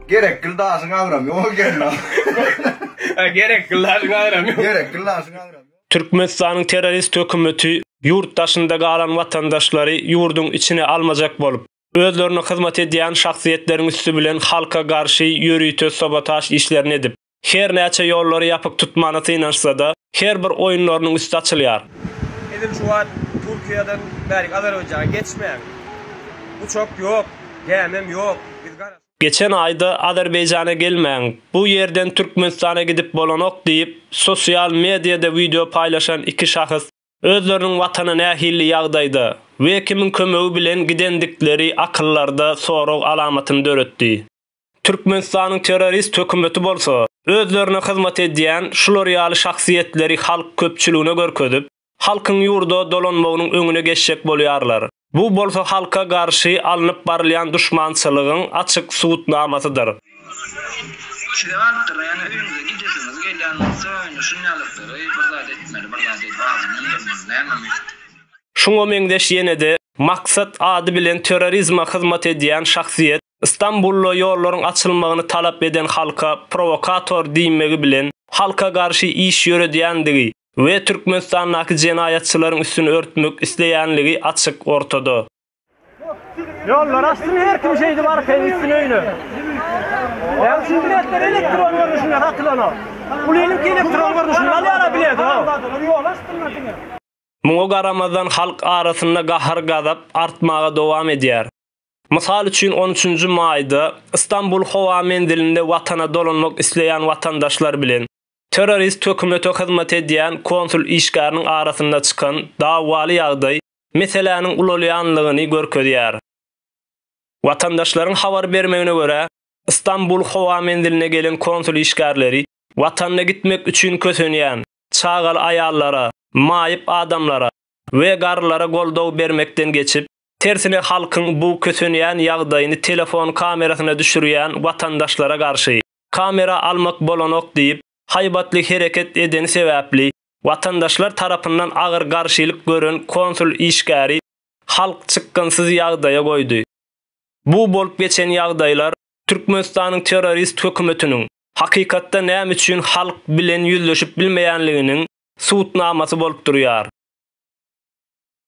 Gerek gildaşyň agram yok gelme. Gerek gildaşyň agram yok. Gerek gildaşyň agram yok. Türkmenistanyň terrorist hökümeti ýurt daşynda galan watandaşlary ýurduň içine almajak bolup, özlerine hyzmat edýän şahsyýetleriň üsti bilen halka garşy ýörite sabotaž işlerini edip, Her näçe ýollary ýapyk tutmana synanyşsa-da, her bir oýunlarynyň üsti açylýar. Edil şu wagt Türkiýeden bärik Azerbaýjana geçmäň. Uçak ýok, gämem ýok. Biz garaşyp. Geçen aýda Azerbaýjana gelmäň, bu ýerden Türkmenistana gidip bolanok diýip, sosial mediada wideo paýlaşan iki şahs özleriniň watana nähili ýagdaýda we kimiň kömegi bilen gidendikleri akyllarda sorag alamatyny döretdi. Türkmenistanyň terrorist hökümeti bolsa, özlerine hyzmat edýän şular ýaly şahsyýetleri halk köpçüligine görkezip, halkyň ýurda dolanmagynyň öňüne geçjek bolýarlar. Bu bolsa halka garşy alnyp barylýan duşmançylygyň açyk subutnamasydyr. Şeýle wagtlarda, ýöne öýüňize gidesiňiz gelýän bolsa, indi şunýalyklary, bir zat etmeli, bir zat edip adyny öndürmeli, nämemi? Şuňa meňzeş ýene-de Maksat ady bilen terrorizme hyzmat edýän şahsyýet Stambulda ýollaryň açylmagyny talap eden halka prowokator diýmegi bilen halka garşy iş ýöredýändigi we Türkmenistandaky jenaýatçylaryň üstüni örtmek isleýänligi açyk ortada. Ýollary açsyn her kim şeýdip arkaýyn gitsin öýüne. Ýa şu biletler elektron görnüşinde satylanok. Ulynyňky elektron görnüşinde alýara bileti howw. Muňa garamazdan halk arasynda gahar-gazap artmaga dowam edýär. Mysal üçin, on üçünji maýda Stambul howa menzilinde watana dolanmak isleýän watandaşlar bilen terrorist hökümete hyzmat edýän konsul işgäriniň arasynda çykan dawaly ýagdaý meseläniň ulalýanlygyny görkezýär. Watandaşlaryň habar bermegine görä, Stambul howa menziline gelen konsul işgärleri watanyna gitmek üçin kösenýän çagaly aýallara, maýyp adamlara we garrylara goldaw bermekden geçip, Tersine halkyň bu kösenýän ýagdaýyny telefon kamerasyna düşürýän watandaşlara garşy, kamera almak bolanok diýip, haýbatly hereket edeni sebäpli, watandaşlar tarapyndan agyr garşylyk gören konsul işgäri halk çykgynsyz ýagdaýa goýdy. Bu bolup geçen ýagdaýlar Türkmenistanyň terrorist hökümetiniň hakykatda näme üçin halk bilen ýüzleşip bilmeýänliginiň subutnamasy bolup durýar.